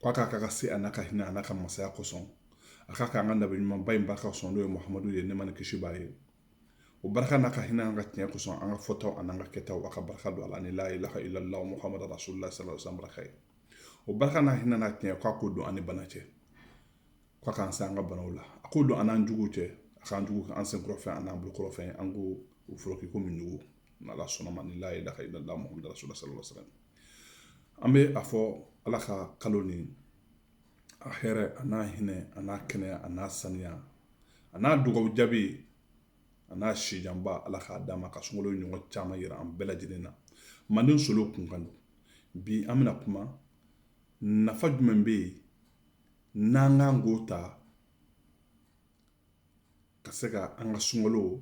ko a k'a ka se a n'a ka hinɛ a n'a ka masaya kosɔn a k'a k'an ka nabi ɲumanba in barika kosɔn n'o ye muhamadu ye nɛɛma ni kisi b'a ye o barika n'a ka hinɛ an'a ka tiɲɛ kosɔn an ka fɔtaw an'an ka kɛtaw a ka barika don a la ni la ilaha illallah muhammad rasulullah sallallahu alaihi baraka ye o barika n'a hinɛ n'a tiɲɛ k'a ko don an ni bana cɛ k'a k'an se an ka banaw la a ko don an n'an juguw cɛ a k'an jugu an sen kɔrɔfɛ an'an bolo kɔrɔfɛ an ko u fɔlɔ k'i ko min jugu n'ala sɔnna a ma ni la ilaha illallah muhammad rasulullah sallallahu alaihi wasallam an bɛ a fɔ ala ka kalo ni a hɛrɛ a n'a hinɛ a n'a kɛnɛya a n'a saniya a n'a dugaw jaabi a n'a sijanba ala k'a d'an ma ka sunkalo ɲɔgɔn caman yira an bɛɛ lajɛlen na manden solo kunkan don bi an bɛna kuma nafa jumɛn bɛ yen n'an kan k'o ta ka se ka an ka sunkalo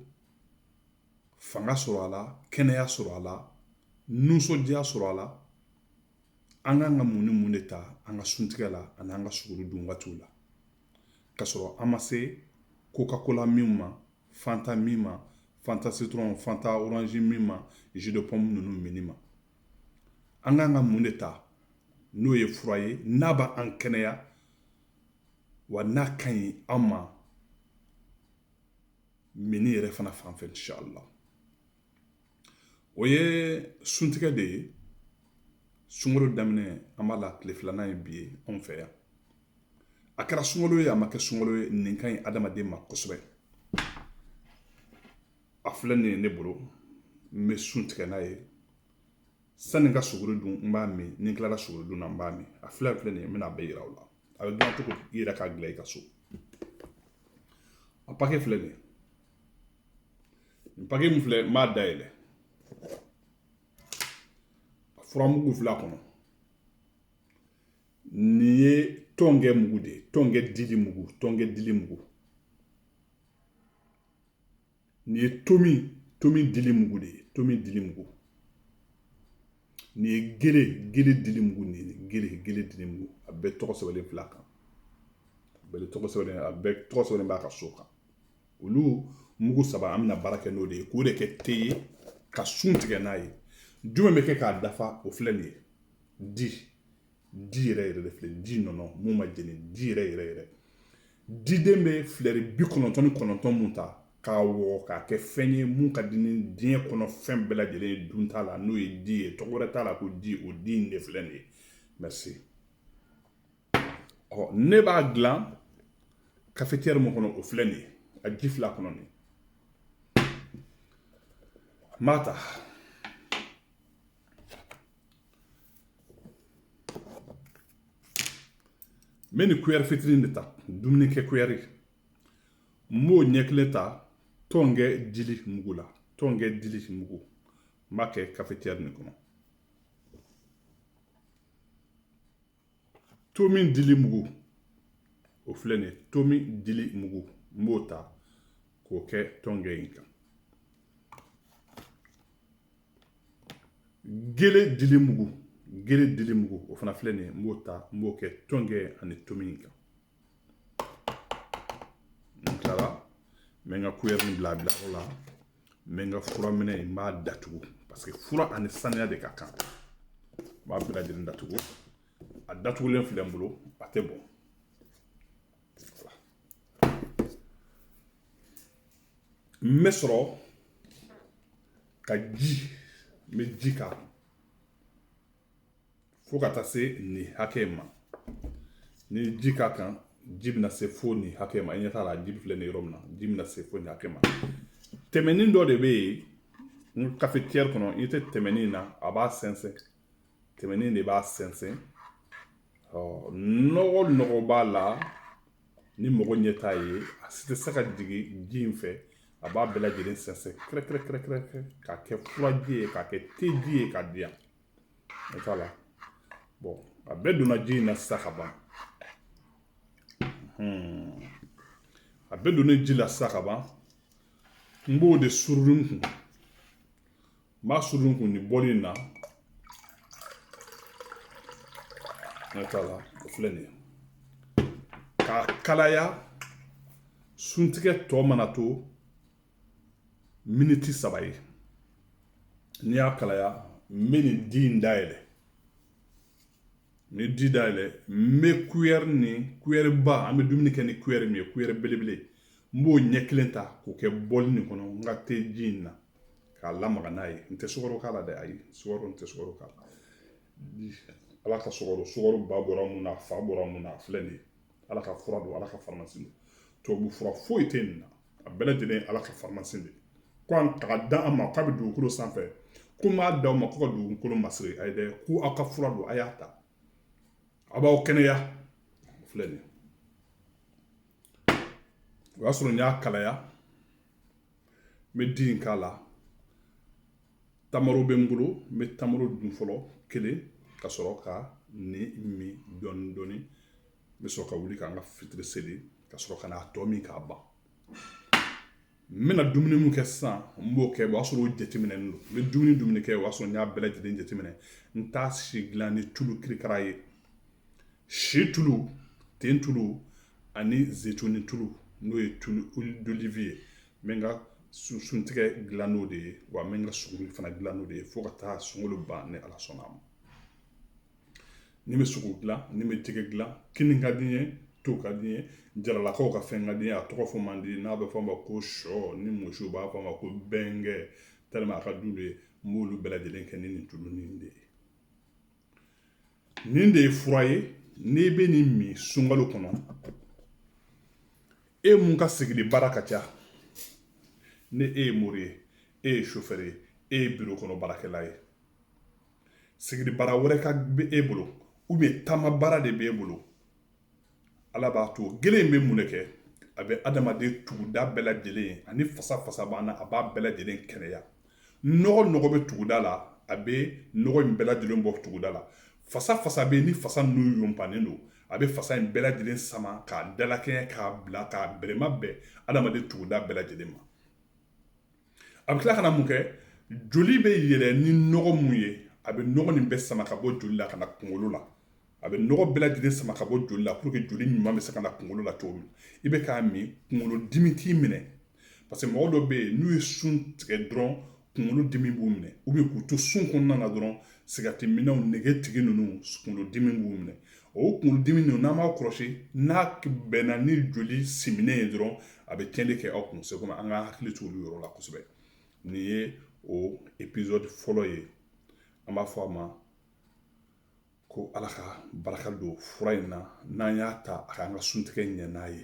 fanga sɔrɔ a la kɛnɛya sɔrɔ a la nisɔndiya sɔrɔ a la an kan ka mun ni mun de ta an ka suntigɛ la ani an ka suguri dun waatiw la ka sɔrɔ an ma se coca cola min ma fanta min ma fanta citron fanta orange min ma jus de pomme ninnu minni ma an kan ka mun de ta n'o ye fura ye n'a b'an kɛnɛya wa n'a ka ɲi an ma minni yɛrɛ fana fan fɛ la o ye suntigɛ de ye sunkalo daminɛ an b'a la tile filanan ye bi ye anw fɛ yan a kɛra sunkalo ye a ma kɛ sunkalo ye nin ka ɲi adamaden ma kosɛbɛ a filɛ nin ye ne bolo n bɛ sun tigɛ n'a ye sanni ka sogo dun n b'a min ni n tilara sogo dun na n b'a min a filɛ filɛ nin ye n bɛna a bɛɛ yira aw la a bɛ dilan cogo i yɛrɛ k'a dilan i ka so a pake filɛ nin ye nin pake min filɛ n b'a dayɛlɛ a furamugu filɛ a kɔnɔ nin ye tɔnkɛ mugu de ye tɔnkɛ dili mugu tɔnkɛ dili mugu nin ye tomi tomi dili mugu de ye tomi dili mugu nin ye gele gele dili mugu nin ye gele gele dili mugu a bɛɛ tɔgɔ sɛbɛnlen fil'a kan a bɛɛ tɔgɔ sɛbɛnlen a bɛɛ tɔgɔ sɛbɛnlen b'a ka so kan olu mugu saba an bɛna baara kɛ n'o de ye k'o de kɛ te ye ka sun tigɛ n'a ye jumɛn bɛ kɛ k'a dafa o filɛ nin ye di di yɛrɛ yɛrɛ de filɛ di nɔnɔ mun ma jeni di yɛrɛ yɛrɛ yɛrɛ diden bɛ filɛri bi kɔnɔntɔn ni kɔnɔntɔn mun ta k'a wɔgɔ k'a kɛ fɛn ye mun ka di ni diɲɛ kɔnɔ fɛn bɛɛ lajɛlen ye dun t'a la n'o ye di ye tɔgɔ wɛrɛ t'a la ko di o di in de filɛ nin ye merci ɔ ne b'a dilan cafetière mun kɔnɔ o filɛ nin ye a ji fila kɔnɔ nin n b'a ta n bɛ nin kuyɛri fitinin de ta dumuni kɛ kuyɛri n b'o ɲɛ kelen ta tɔnkɛ dili mugu la tɔnkɛ dili mugu n b'a kɛ kafetiyɛri nin kɔnɔ tomi dili mugu o filɛ nin ye tomi dili mugu n b'o ta k'o kɛ tɔnkɛ in kan gele dili mugu gele dili mugu o fana filɛ nin ye n b'o ta n b'o kɛ tɔnkɛ ani tomi in kan n tilala n bɛ n ka kuyɛri nin bila bila o la n bɛ n ka fura minɛ n b'a datugu paseke fura ani saniya de ka kan n b'a bɛɛ lajɛlen datugu a datugulen filɛ n bolo a tɛ bɔn n bɛ sɔrɔ ka ji n bɛ ji k'a kan fo ka taa se nin hakɛ in ma ni ji k'a kan ji bɛna se fo nin hakɛ ma i ɲɛ t'a la ji filɛ nin yɔrɔ min na ji bɛna se fo nin hakɛ ma tɛmɛnin dɔ de bɛ yen n kafetiyɛri kɔnɔ i ɲɛ tɛ tɛmɛnin na a b'a sɛnsɛn tɛmɛnin de b'a sɛnsɛn ɔ nɔgɔ nɔgɔ b'a la ni mɔgɔ ɲɛ t'a ye a si tɛ se ka jigin ji in fɛ a b'a bɛɛ lajɛlen sɛnsɛn kɛrɛkɛrɛkɛrɛkɛrɛ k'a kɛ furaji ye k'a kɛ teji ye k'a diya o t'a la bɔn a bɛɛ donna ji in na sisan ka ban a bɛɛ donnen ji la sisan ka ban n b'o de surun kun N b'a suru kun nin bɔli in na n'a t'a la o filɛ nin ye k'a kalaya suntigɛ tɔ mana to miniti saba ye n'i y'a kalaya n bɛ nin di in dayɛlɛ ni di dayɛlɛ n bɛ kuyɛri nin kuyɛri ba an bɛ dumuni kɛ ni kuyɛri min ye kuyɛri belebele n b'o ɲɛ kelen ta k'o kɛ bɔli nin kɔnɔ n ka te ji in na k'a lamaga n'a ye n tɛ sukaro k'a la dɛ ayi sukaro n tɛ sukaro k'a la ala ka sukaro sukaro ba bɔra mun na a fa bɔra mun na a filɛ nin ye ala ka fura don ala ka faramasi don tubabu fura foyi tɛ nin na a bɛɛ lajɛlen ye ala ka faramasi de ko an taga da an ma k'a bɛ dugukolo sanfɛ ko n b'a d'aw ma ko ka dugukolo masiri a ye dɛ ko aw ka fura don a y'a ta a b'aw kɛnɛya filɛ nin ye o y'a sɔrɔ n y'a kalaya n bɛ di in k'a la tamaro bɛ n bolo n bɛ tamaro dun fɔlɔ kelen ka sɔrɔ ka nin min dɔɔnin dɔɔnin n bɛ sɔrɔ ka wuli ka n ka fitiri seli ka sɔrɔ ka n'a tɔ min k'a ban n bɛna dumuni min kɛ sisan n b'o kɛ o y'a sɔrɔ o jateminɛlen don n bɛ dumuni dumuni kɛ o y'a sɔrɔ n y'a bɛɛ lajɛlen jateminɛ n t'a si dilan ni tulu kirikara ye si tulu nten tulu ani zetoni tulu n'o ye dolifi ye n bɛ n ka suntigɛ dilan n'o de ye wa n bɛ n ka sogo fana dilan n'o de ye fo ka taa sunkalo ban ni ala sɔnna a ma n'i bɛ sogo dilan n'i bɛ jɛgɛ dilan kini ka d'i ye to ka d'i ye jaralakaw ka fɛn ka di a tɔgɔ fɔ man di n'a bɛ fɔ a ma ko shɔ ni muso b'a fɔ a ma ko bɛnkɛ a ka d'u de ye n b'olu bɛɛ lajɛlen kɛ ni nin tulu de ye nin de ye fura ye n'i bɛ nin min sunkalo kɔnɔ e mun ka sigili baara ka ca ni e ye mori ye e ye sofɛri ye e ye biro kɔnɔ baarakɛla ye sigili baara wɛrɛ ka bɛ e bolo ou bien taama baara de b'e bolo ala b'a to gele in bɛ mun de kɛ a bɛ adamaden tuguda bɛɛ lajɛlen ani fasa fasa b'an na a b'a bɛɛ lajɛlen kɛnɛya nɔgɔ nɔgɔ bɛ tuguda la a bɛ nɔgɔ in bɛɛ lajɛlen bɔ tuguda la fasa fasa bɛ ni fasa ninnu yonpannen don a bɛ fasa in bɛɛ lajɛlen sama k'a dalakɛɲɛ k'a bila k'a bɛrɛma bɛn adamaden tuguda bɛɛ lajɛlen ma a bɛ tila ka na mun kɛ joli bɛ yɛlɛ ni nɔgɔ mun ye a bɛ nɔgɔ nin bɛɛ sama ka bɔ joli la ka na kunkolo la a bɛ nɔgɔ bɛɛ lajɛlen sama ka bɔ joli la pour que joli ɲuman bɛ se ka na kunkolo la cogo min i bɛ k'a min kunkolo dimi t'i minɛ parce que mɔgɔ dɔ bɛ yen n'u ye sun tigɛ dɔrɔn kunkolo dimi b'u minɛ ou bien k'u to sun kɔnɔna na dɔrɔn sigarɛti minnaw nege tigi ninnu kunkolo dimi b'u minɛ o kunkolo dimi ninnu n'an b'a kɔlɔsi n'a bɛnna ni joli siminnen ye dɔrɔn a bɛ tiɲɛni kɛ aw kun seko an ka hakili to olu yɔrɔ la kosɛbɛ nin ye o episode fɔlɔ ye an b'a fɔ a ma ko ala ka barika don fura in na n'an y'a ta a k'an ka suntigɛ ɲɛ n'a ye